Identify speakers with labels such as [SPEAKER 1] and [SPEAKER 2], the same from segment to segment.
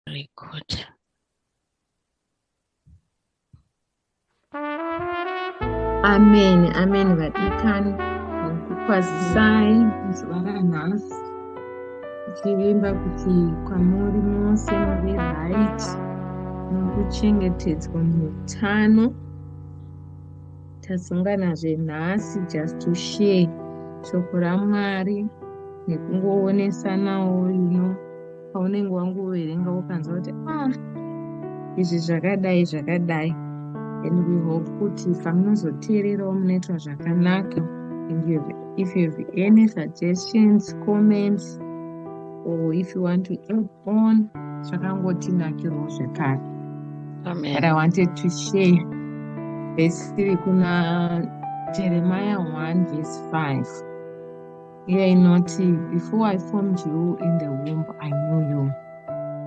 [SPEAKER 1] record amen amen vadikani kwazisai zuva ranhasi tichivimba kuti kwamuri mose muri right nokuchengetedzwa muutano tasonganazve nhasi just to share shoko ramwari nekungoonesanawo you know paunenge wangoverenga ukanzwa kuti ah izvi zvakadai zvakadai and we hope kuti pamunozoteererawo munoitwa zvakanaka and you have, if you have any suggestions comments or if you want to add on zvakangotinakirawo zvekare but
[SPEAKER 2] i wanted to
[SPEAKER 1] share vhesi riri kuna jeremiah 1 vhesi 5 Iyo inoti before I formed you in the womb I knew you.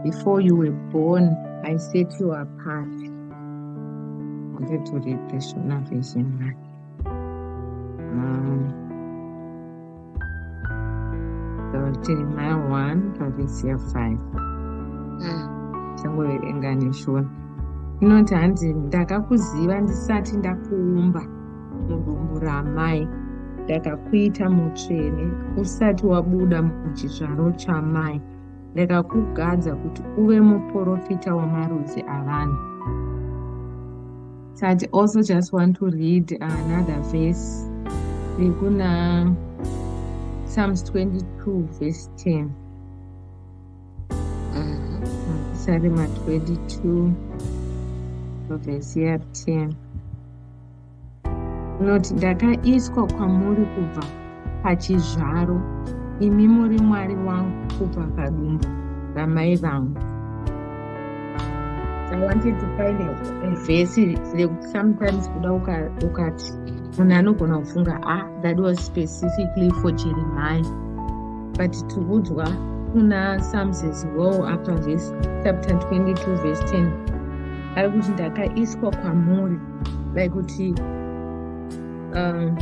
[SPEAKER 1] Before you were born I set you apart. Wanted to read the Shona version. Um, so Jeremiah 1, verse 5. Mm. Changoverenga neshona. Inoti hanzi ndakakuziva ndisati ndakuumba. mudumbu ramai ndakakuita mutsvene usati wabuda muchizvaro chamai ndakakugadza kuti uve muprofita wamarudzi avanhu so i also just want to read another verse rekuna psalms 22 verse 10 psalm 22 verse 10 Loti, ndakaiswa kwamuri kubva pachizvaro, imi muri Mwari wangu kubva padumbu ramai vangu. I wanted to find a, a verse rekuti sometimes kuda ukati munhu anogona kufunga ah that was specifically for jeremiah but tikudzwa kuna psalms as well apa verse chapter 22 verse 10 ari kuti ndakaiswa kwamuri like kuti um,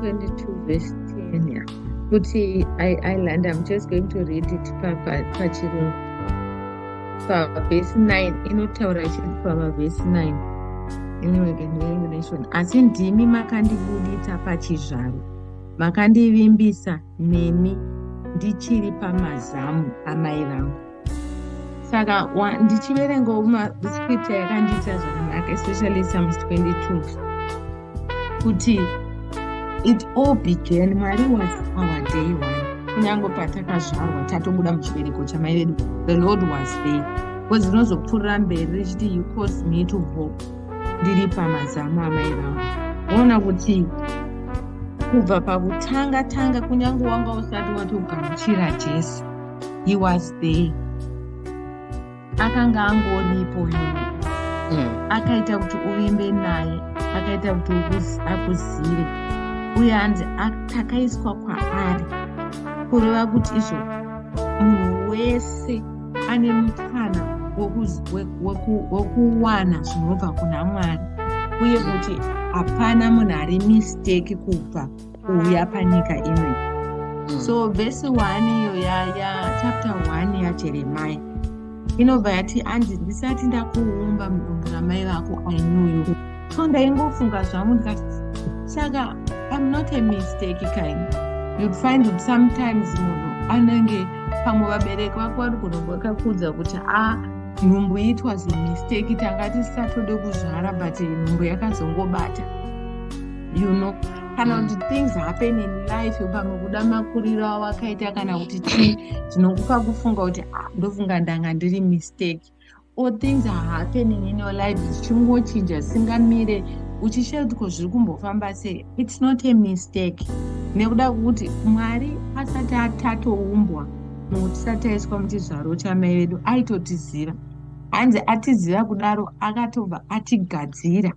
[SPEAKER 1] 22 verse 10 yeah. kuti iland i'm just going to read it pachirungu pa, pa verse 9 inotaura chiri pava verse 9 asi ndimi makandibuditsa pachizvaro makandivimbisa nemi ndichiri pamazamu amai vangu saka ndichiverengawo mascripta yakandiita zvakanaka especially psalms 22 kuti it all began mwari was our day one kunyange patakazvarwa tatobuda muchibereko chamai vedu the lord was there bcause rinozopfuurira mberi richiti you cause me to vo ndiri pamazamu amai vangu oona kuti kubva pakutanga tanga kunyange wanga usati watogamuchira jesu he was there akanga angoripo uyu mm. akaita kuti uvimbe naye akaita kuti akuzive uye hanzi takaiswa kwaari kureva kuti izvo munhu wese ane mukana wekuwana zvinobva kuna mwari uye kuti hapana munhu ari misteki kubva kuuya panyika imwe mm. so vhesi 1 iyo yachapter 1 yajeremai inobva yati anzi ndisati ndakuumba mudumbu ramai vako ainuyu so ndaingofunga zvangu ndikati saka i'm not a mistake kind you'd find it sometimes munhu anenge pamwe vabereki vako vari kunombakakudza kuti a ah, nhumbu itwa zimistake tanga tisatode kuzvara but nhumbu yakazongobata you know kana kuti things happen in life pamwe kuda makuriro awakaita kana kuti chii zvinokupa kufunga kuti ah, ndofunga ndanga ndiri mistake or things are happening in your life zvichingochinja singamire uchishaya kuti ko zviri kumbofamba sei its not a mistake nekuda kwekuti mwari asati atatoumbwa munhu tisati aiswa muchizvaro chamai vedu aitotiziva hanzi atiziva kudaro akatobva atigadzira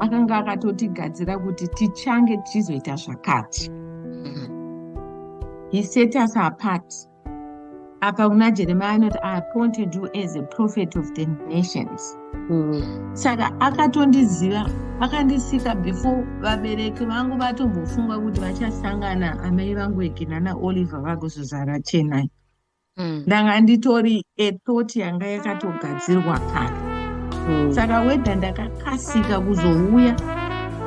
[SPEAKER 1] akanga akatotigadzira kuti tichange tichizoita zvakati mm-hmm. he set us apart apa kuna jeremiya anoti i appointed you as a prophet of the nations mm. saka akatondiziva akandisika before vabereki vangu vatombofunga kuti vachasangana amai vangu eginana oliver vagozozara chenai mm. ndanga nditori ethot yanga yakatogadzirwa kare mm. saka wedha ndakakasika kuzouya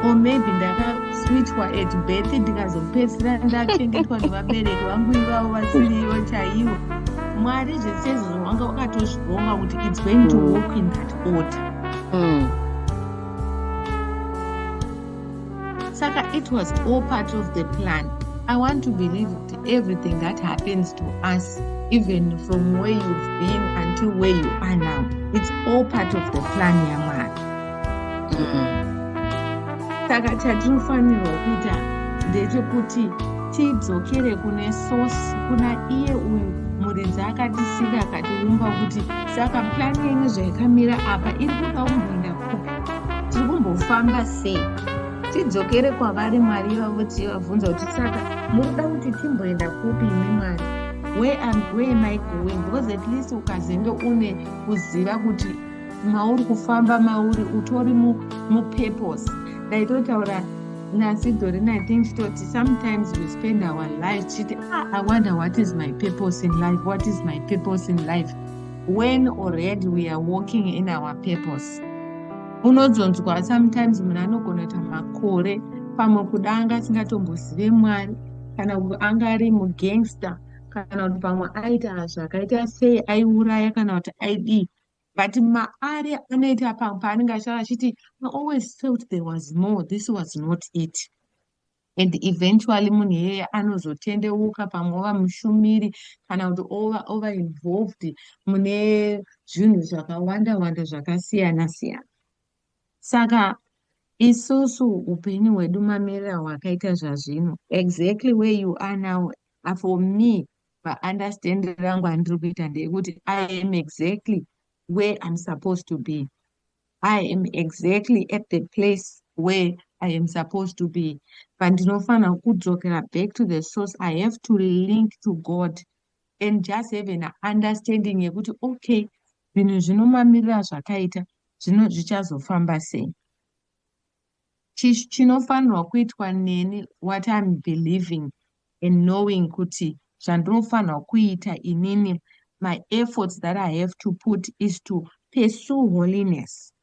[SPEAKER 1] or maybe ndakaswitchwa at birth ndikazopedzisira ndachengetwa nevabereki vangu ivavo vasirivo chaivo mwari zvese izvo zvawanga wakatozvivonga kuti its going to mm. walk in that order mm. saka it was all part of the plan i want to believe everything that happens to us even from where you've been until where you are now it's all part of the plan yamwari saka mm. chatinofanirwa kuita ndechekuti tidzokere kune source kuna iye uyu muridzi akatisika akatiumba kuti saka plan yenyu zvaikamira apa iri kuda kumboenda tiri kumbofamba sei tidzokere kwavari mwari vavo tivabvunza kuti saka munoda kuti timboenda kupi imi mwari where and where am i going because at least ukazenge une kuziva kuti mauri kufamba mauri utori mupurpose ndaitotaura nasidhori nathing titoti sometimes we spend our life tichiti ah, i wonder what is my purpose in life what is my purpose in life when already we are walking in our purpose unodzonzwa sometimes munhu anogona kuita makore pamwe kuda anga asingatombozive mwari kana anga ari mugangster kana kuti pamwe aita zvakaita sei aiuraya kana kuti aidii but maari anoita pamwe paanenge achitaura achiti i always felt there was more this was not it and eventually munhu iyeye anozotendeuka pamwe ova mushumiri kana kuti ova ova involved mune zvinhu zvakawanda wanda zvakasiyana siyana saka isusu upenyu hwedu mamirira hwakaita zvazvino exactly where you are now ah, for me paunderstand rangu andiri kuita ndeyekuti i am exactly where im supposed to be I am exactly at the place where I am supposed to be. Pandinofanira kudzokera back to the source, I have to link to God and just have an understanding yekuti okay, zvinhu zvinomamirira zvakaita zvino zvichazofamba sei. chinofanirwa kuitwa neni what iam believing and knowing kuti zvandinofanirwa kuita inini my efforts that i have to put is to pursue holiness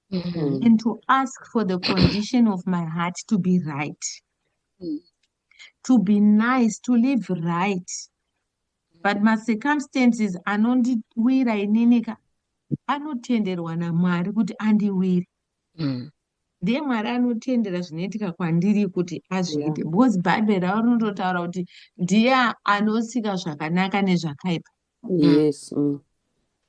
[SPEAKER 1] mm -hmm. and to ask for the condition of my heart to be right mm -hmm. to be nice to live right but macircumstances anondiwira inini ka anotenderwa namwari kuti andiwire mm. ndiye mwari anotendera zvinoitika kwandiri kuti azviite yeah. because bhaibheri ravo rinototaura kuti ndiye anosika zvakanaka nezvakaipa mm. yes mm.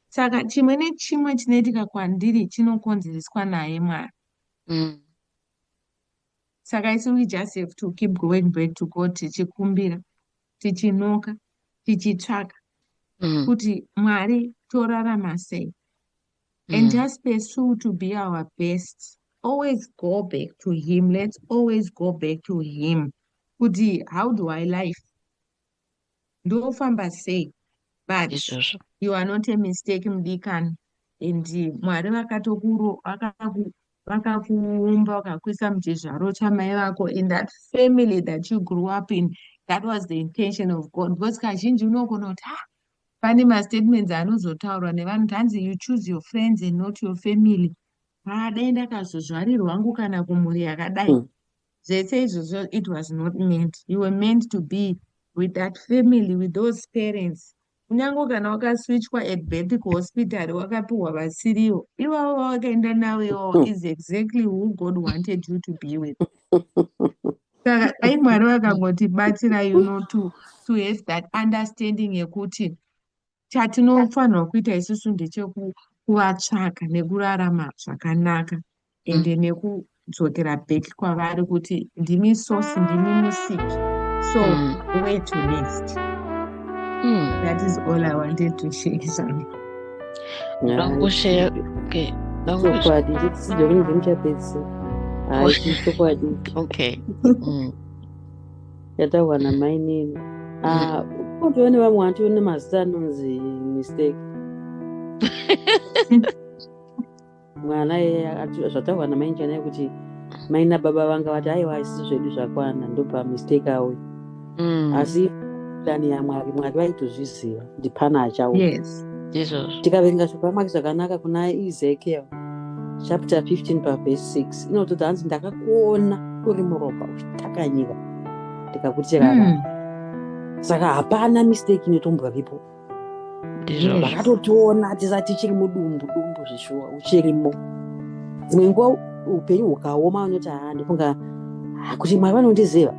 [SPEAKER 1] saka chimwe nechimwe chinoitika kwandiri chinokonzereswa naye mwari mm. saka isi we just have to keep going back to god tichikumbira tichinoka tichitsvaka mm. kuti mwari torarama sei mm. and just pursue to be our best always go back to him let's always go back to him kuti how do i life ndofamba sei but Ishoso. you are not a mistake mudikani and mwari vakatokuumbwa vakakuisa muchizvaro chamai vako in that family that you grew up in that was the intention of god because kazhinji unogona kuti ha ah, pane mastatements anozotaurwa nevanhu kuti hanzi you choose your friends and not your family haa dai ndakazozvarirwa hangu kana kumhuri yakadai hmm. zvese izvozvo it was not meant you were meant to be with that family with those parents kunyange kana wakaswichwa at birth kuhospitary wakapiwa vasiriwo ivavo vawakaenda navo iwawo hmm. is exactly who god wanted you to be with saka dai mwari vakangotibatsira you know to, to have that understanding yekuti chatinofanirwa kuita isusu ndechekuvatsvaka nekurarama zvakanaka mm. ende mm. nekudzokera back kwavari kuti ndimi source ndimi musiki so mm. way to next mm. that is all i wanted to share zvangu ndangosheya okay chokwadi chidzidzo
[SPEAKER 2] kunge ndichapedzi hayi chichokwadi okay yataurwa mm. namainini kotowe mm. nevamwe vantu nemazita anonzi mistake mwana zvataurwa namai njanai kuti mai nababa vanga vati aiwa isisi zvedu zvakwana ndopamistake awe mm. asi plani yamwari mwari vaitozviziva kuti pana achawo
[SPEAKER 1] tikaverenga
[SPEAKER 2] zvepamwari zvakanaka kuna ezekiel chapter 15 pavhesi 6 inototi hanzi ndakakuona uri muropa uchitakanyika ndikakutirara mm. saka hapana mistake inotombwa vipo ndizvozvakatotiona tisa tichiri mudumbu dumbu zvishuwa uchirimo dzimwe nguva upenyu hukaoma unoti haa ndifunga kuti mwari vanondiziva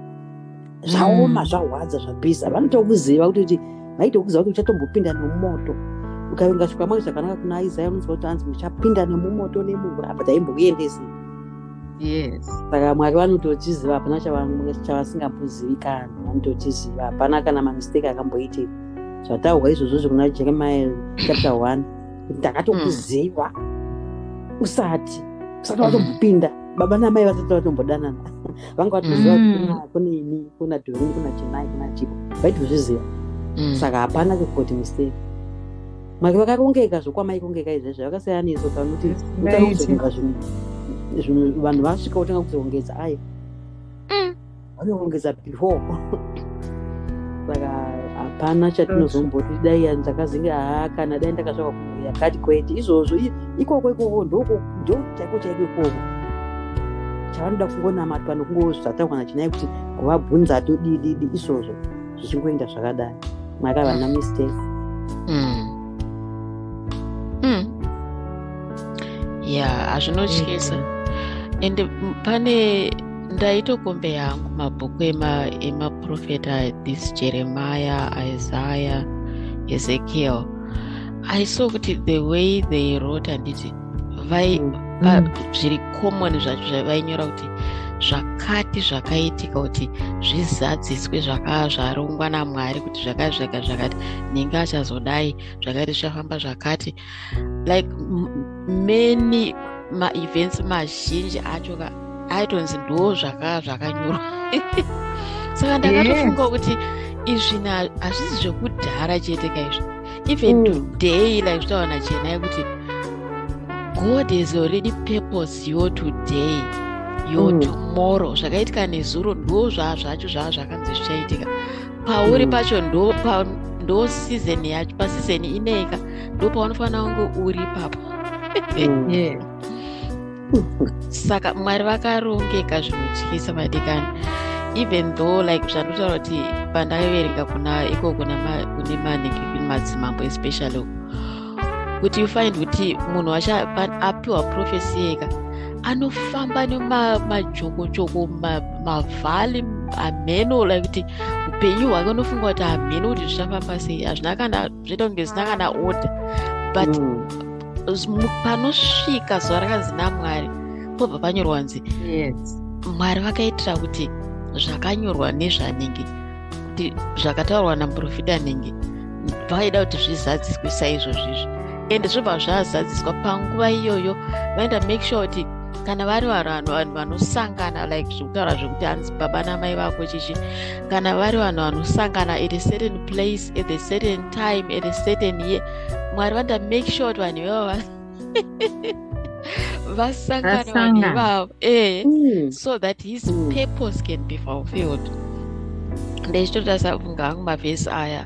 [SPEAKER 2] zvaoma mm. zvahwadza zvapisa vanotokuziva kuti kuti vaitokuziva kuti uchatombopinda nemumoto ukavenga zvikwamwari zvakanaka kuna isaya unonzwa kuti anzi muchapinda nemumoto nemuvura apa taimbokuendesei
[SPEAKER 1] yes saka mwari
[SPEAKER 2] vanototiziva hapana chavasingambozivi kana vanototiziva hapana kana mamistake akamboitika zvataurwa izvozvo zvekuna jeremiah chapter one kuti ndakatokuziva mm. usati usati watombopinda baba namai vasati vatombodanana vanga vatoziva mm. kune ini kuna dorin kuna chenai kuna chipo vaitozviziva mm. saka hapana kekoti mistake make vakarongeka zvokwamai kongeka izvezvi vakasiyana nesu pakuti kutanga kuzoronga zvinhu vanhu vasvika kutanga kuzorongedza ayi mm. vanorongedza before saka hapana chatinozomboti dai ndakazenge haa kana dai ndakasvaka kumhuri yakati kwete izvozvo ikoko ikoko ndo chaiko chaiko ikoko chavanoda kungonamatwa nokungoozvataurwa nachinai kuti kuvabvunza atodididi izvozvo zvichingoenda zvakadai mwari havana mm. mistake mm. mm.
[SPEAKER 3] ya hazvinotyisa and pane ndaitokombe yangu mabhuku emaprofeta this jeremiah isaiah ezekiel i saw kuti the way they wrote handiti vai mm. pa, mm. zviri common zvacho zvavainyora kuti zvakati zvakaitika kuti zvizadziswe zvakaa zvarongwa namwari kuti zvakati zvaka zvakati ninge achazodai zvakati zvichafamba zvakati like many maevents mazhinji acho ka aitonzi ndoo zvakaa zvakanyorwa saka ndakatofunga kuti izvi hazvisi zvekudhara chete ka izvi even mm. today like zvitaura nachena yekuti god has already purpose your today your mm. tomorrow zvakaitika nezuro ndo zvaa zvacho zvaa zvakanzi zvichaitika pauri mm. pacho ndo pa ndo season yacho paseason ineyika ndo paunofanira kunge uri papo mm. yeah. saka mwari vakarongeka zvinotyisa madikani even though like zvandotaura kuti pandaiverenga kuna ikoko kune manenge kune madzimambo especially kuti you find kuti munhu wacho apiwa profesi yeka anofamba nemajokochoko mavhali hameno like kuti upenyu hwake unofunga kuti hameno kuti zvichafamba sei hazvina kana zvitonge zvisina kana order but mm. panosvika zuva rakanzi namwari pobva panyorwa nzi mwari vakaitira kuti zvakanyorwa nezvanenge kuti zvakataurwa naprofita anenge vaida kuti zvizadziswe saizvozvizvi ende zvobva zvazadziswa panguva iyoyo vaenda make sure kuti kana vari vanhu vanhu vanosangana like zvekutaura zvekuti hanzi baba namai vako chichi kana vari vanhu vanosangana at a certain place at a certain time at a certain year mwari vanda make sure kuti vanhu ivavo vasangana vanhu ivavo e mm. so that his mm. purpose can be fulfilled ndechitoda safunga hangu mavhesi aya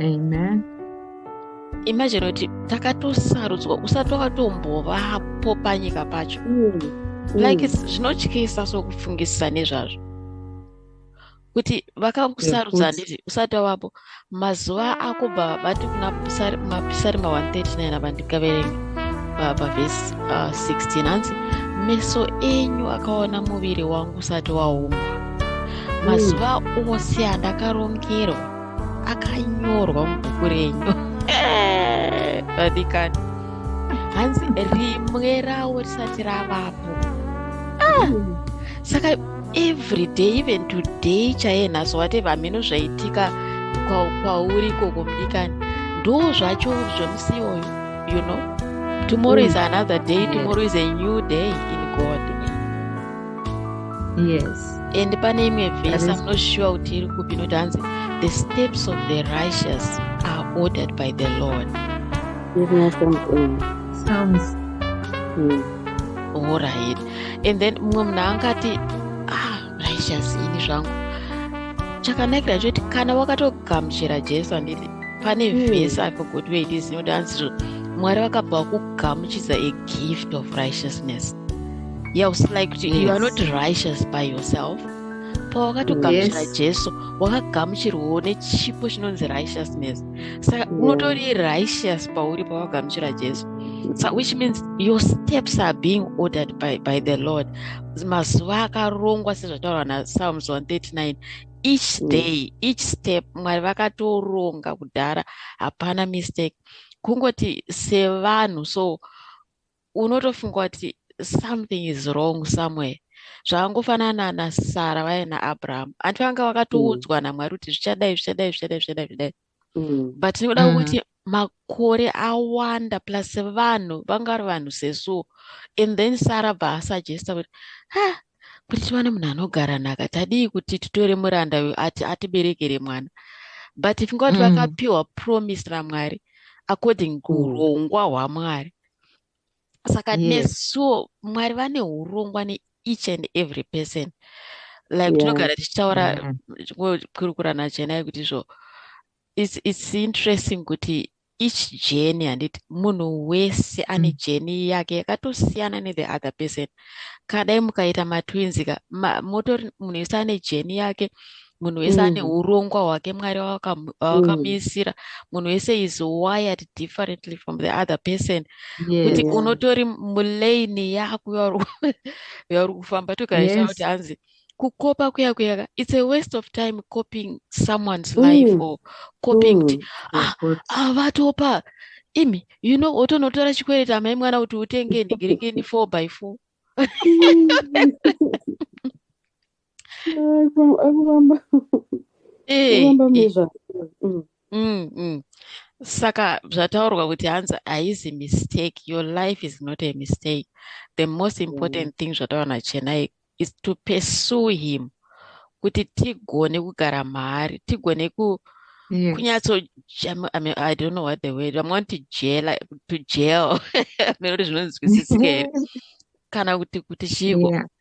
[SPEAKER 1] amen
[SPEAKER 3] imagine kuti takatosarudzwa usati wakatombovapo panyika pacho mm. like mm. zvinotyisa so kufungisisa nezvazvo kuti vakakusarudza handiti usati wavapo mazuva akubva vati kuna mapisarima 139 ava ndikaverenge pavhesi 16 uh, hanzi meso enyu akaona muviri wangu usati waumbwa mazuva ose andakarongerwa akanyorwa mubhuku renyu vadikani hanzi rimwe rawo risati ravapo ah! saka every day even today chaiye nhasi watev hameno zvaitika kwauri ikoko mudikani ndo zvacho zvemusi iyoyo you know tomorrow is mm. another day tomorrow is a new day in god
[SPEAKER 1] yes and pane imwe
[SPEAKER 3] vhesi am not sure kuti iri kupi inoti hanzi the steps of the righteous are ordered by the lord sounds
[SPEAKER 1] mm.
[SPEAKER 3] all right and then mumwe munhu angati ah righteous ini zvangu chakanakira choti kana wakatogamuchira jesu anditi pane hmm. vhesi mm. apo kuti weitizinodanzi mwari vakabva kugamuchidza a gift of righteousness yeah was like yes. you are not righteous by yourself pawakatogamuchira yes. jesu wakagamuchirwawo nechipo chinonzi righteousness saka yeah. unotori righteous pauri pawagamuchira jesu so which means your steps are being ordered by, by the lord mazuva akarongwa sezvataurwa napsalms 139 each mm. day each step mwari vakatoronga kudhara hapana mistake kungoti sevanhu so unotofunga kuti something is wrong somewhere zvakangofanana nasara vaya naabraham anti vanga vakatoudzwa mm. namwari kuti zvichadai zvichadai zvichadai zvichadai zvichadai mm. but tinoda mm. kuti makore awanda plus vanhu vanga vari vanhu sesuo and then sara bva asuggesta kuti ha kuti tiwane munhu anogara nhaka tadii kuti titore muranda uyu ati atiberekere mwana but if ngati vakapiwa promise ramwari according kurongwa hwamwari saka yes. nesuo mwari vane urongwa neeach and every person like yeah. tinogara tichitaura kukurukura nachenai kuti izvo it's, it's interesting kuti each journey handiti munhu wese ane mm. journey yake yakatosiyana nethe other person kana dai mukaita matwinzi ka motori munhu wese ane journey yake munhu wese mm. ane urongwa hwake mwari wavakamiisira mm. munhu wese is wired differently from the other person kuti yeah. unotori mulaini yako yauri kufamba tokaisha yes. kuti hanzi kukopa kuya kuya it's a waste of time copying someone's mm. life or copying kuti ah, avatopa imi you know otonotora chikwereti amai mwana kuti utenge ndigirikini four by four saka zvataurwa kuti hanzi haizi mistake your life is not a mistake the most important mm. thing zvataura nachenai is to pursue him kuti tigone kugara maari tigone ku yeah. kunyatso I, mean, i don't know what the word vamwe vanoti jela to jail mene kuti zvinonzwisisika here kana kuti kuti chiko yeah.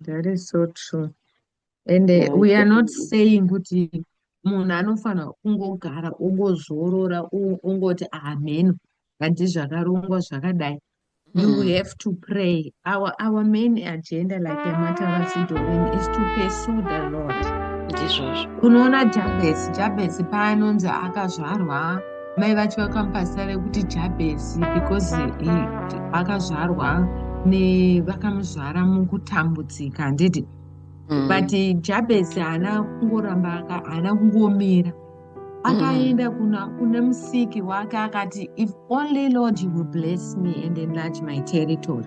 [SPEAKER 1] That is so true. And uh, yeah, we are not saying kuti munhu anofanira kungogara ongozorora ongoti ameno hanti zvakarongwa zvakadai you mm. have to pray our, our main agenda like yamatavasidovin is to pursue the lord ndizvozvo unoona jabesi jabesi paanonzi akazvarwa mai vacho vakamupa zita rekuti jabhesi because vakazvarwa vakamuzvara mukutambudzika handiti mm. but jabhesi haana kungoramba haana kungomira akaenda mm. kune musiki wake akati if only lord you will bless me and enlarge my territory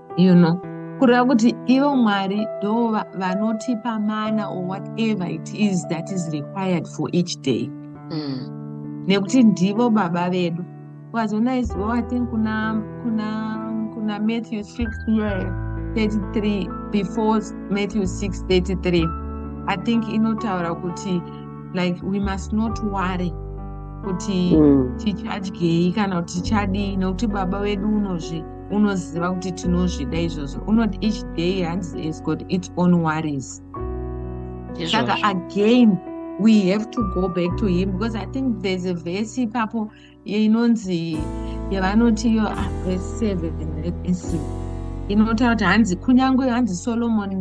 [SPEAKER 1] you know kureva kuti ivo mwari ndo vanotipa mana or whatever it is that is required for each day mm. nekuti ndivo baba vedu wazona is well, i think kuna kuna kuna matthew 6 year 33 before matthew 6 33 i think inotaura kuti like we must not worry kuti mm. tichadyei kana kuti tichadii nekuti baba vedu unozvi unoziva kuti tinozvida izvozvo unoti each day hanzi is got its own worries saka again we have to go back to him because i think there's a verse ipapo inonzi yavanoti iyo ah, verse seven let me see inotaura kuti hanzi kunyange hanzi solomoni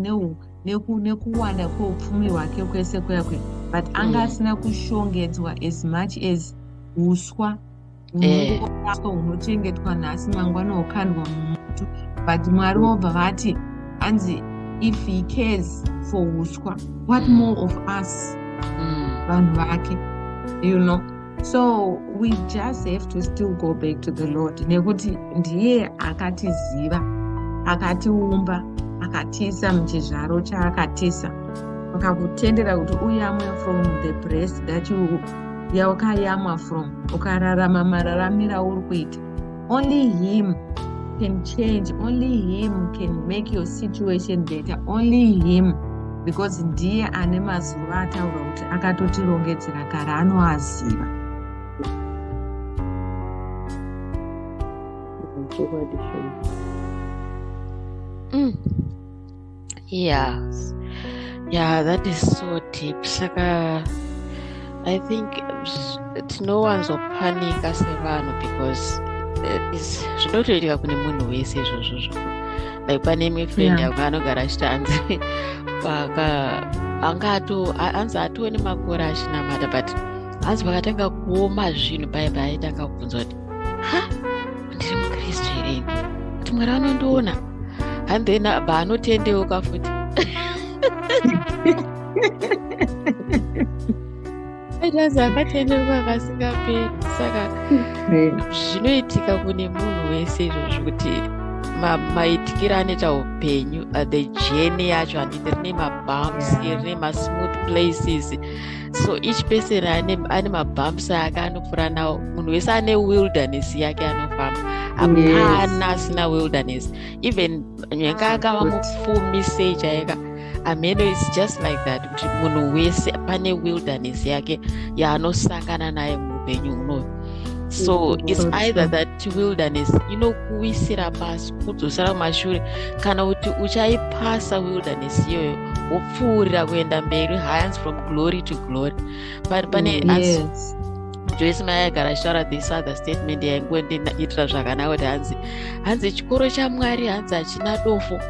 [SPEAKER 1] nekuwanda kweupfumi hwake kwese kuyakwe but anga mm. asina kushongedzwa as much as uswa eh. unoaswa hunochengetwa nhasi mangwana hukandwa mumutu but mwari vobva vati hanzi if he cares for uswa what mm. more of us mm. vanhu mm. vake you know so we just have to still go back to the lord nekuti ndiye akatiziva akatiumba akatiisa muchizvaro chaakatiisa akakutendera kuti uye amwe from the breast that you yaukayamwa from ukararama mararamira uri kuita only him can change only him can make your situation better only him because ndiye ane mazuva ataura kuti akatotirongedzera kare anoaziva
[SPEAKER 3] mm. yes yeah that is so deep saka i think tinowanzopanika sevanhu because eh, zvinotoitika kune munhu wese izvozvo zvo like pane imwe friend yangu yeah. anogara achiti anzi paka anga ato anzi atone makore achinamata but anzi pakatanga kuoma zvinhu paipa aitanga kubvunza kuti ha ndiri mukristu here kuti mwari vanondiona and then abva anotendeuka futi aitazi akatendeuka akasingaperi saka zvinoitika kune munhu wese izvozvo kuti maitikiro anoita upenyu uh, the journey yacho handiti rine mabums rine masmooth places so each person ane, ane mabumps ake anopfura nawo munhu wese ane wilderness yake anofamba hapana yes. asina wilderness even nyanga akava mupfumi sei chaika ameno is just like that kuti munhu wese pane wilderness yake yaanosangana naye muupenyu unoyu so it's either that wilderness inokuwisira pasi kudzosera kumashure kana kuti uchaipasa wilderness iyoyo kupfuurira kuenda mberi hands from glory to glory but pane mm, yes. joyce mai agara shara this other statement yaingoendiitira zvakanaka kuti hanzi hanzi chikoro chamwari hanzi hachina dofo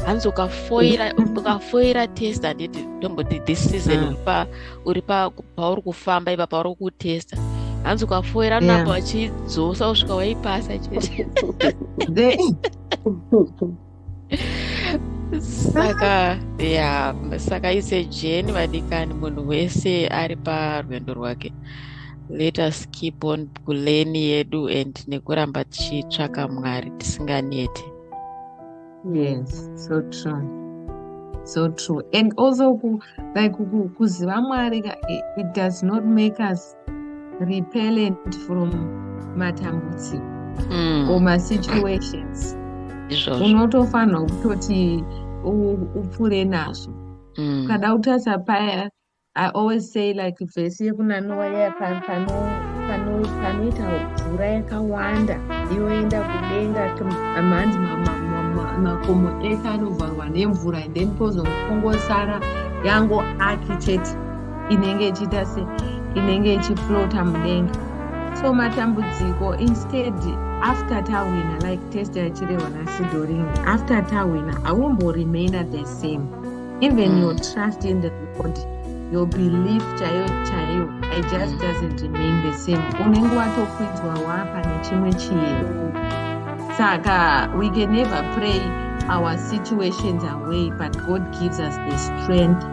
[SPEAKER 3] hanzi ukafoira mm. ukafoira test handiti ndomboti this season mm. pa uri pa pauri kufamba ipa pauri kutesta hanzi ukafoira namba wachidzosa kusvika waipasa chete saka ya saka ise jeni vadikani munhu wese ari parwendo rwake let us keep on kuleni yedu and nekuramba tichitsvaka mwari tisinganete
[SPEAKER 1] yes so true so true and also ku, like kuziva mwari it does not make us repellent from matambudziko mm. or masituations unotofanirwa kutoti upfure nazvo mm. ukada kutarisa paya i always say like vhesi yekuna nowa yaya panoita mvura yakawanda inoenda kudenga mhanzi makomo ese anovharwa nemvura and then pozongongosara yango architect inenge ichiita se inenge ichiflota mudenga so matambudziko instead after tawina like test yachirehwa nasidoring after tawina aumboremaina the same even mm. your trust in the god your belief chaiyo chaiyo i just mm. doesn't remain the same unenge watokwidzwa wapa nechimwe chiyo saka we can never pray our situations away but god gives us the strength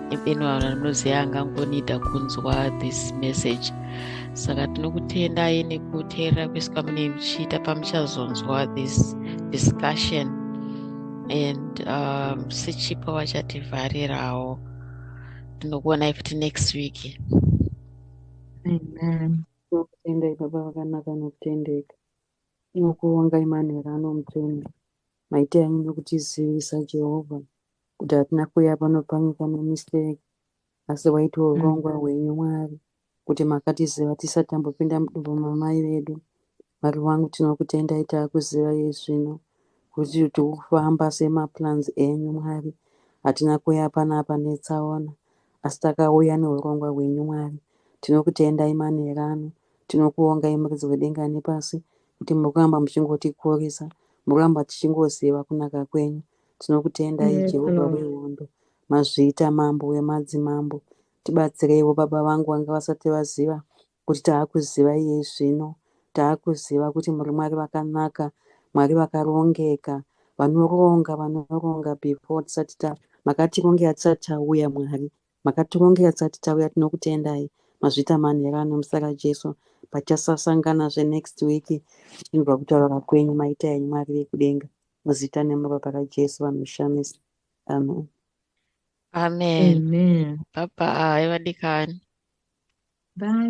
[SPEAKER 3] even vanhu vanoziva angangonida kunzwa this message saka tinokutendai nekuteerera kwese kwamunei muchiita pamuchazonzwa this discussion and um, sechipo vachativharirawo tinokuona ifti next week amen
[SPEAKER 1] tokutendai baba
[SPEAKER 2] vakanaka nokutendeka nokuonga imanhero anomutsvene maita anyu nokutizivisa jehovha kuti hatina kuya pano pamwe kana mistake asi waitiwo mm. urongwa mm. hwenyu mwari kuti makatiziva tisati tambopinda mudumbu mamai vedu mwari wangu tinokutendai taakuziva iye zvino kuti tiri kufamba semaplans enyu mwari hatina kuya panapa netsaona asi takauya neurongwa hwenyu mwari tinokutendai manherano tinokuongai muridzi wedenga nepasi kuti muri kuramba muchingotikurisa muri kuramba tichingoziva kunaka kwenyu Tinokutendai Jehovha wehondo, mazviita mambo wemadzimambo. Tibatsireiwo baba vangu vanga vasati vaziva kuti taakuziva iye zvino. Taakuziva kuti muri Mwari vakanaka, Mwari vakarongeka, vanoronga, vanoronga before tisati ta makatirongera tisati tauya Mwari. Makatirongera tisati tauya tinokutendai. Mazviita manhero ano muzita raJesu pachasasangana zve next week tichinzwa kutaura kwenyu maita enyu Mwari vekudenga. muzita nemubaba rajesu vanoshamisa amen
[SPEAKER 3] amen baba
[SPEAKER 1] ayi vadikani
[SPEAKER 3] bye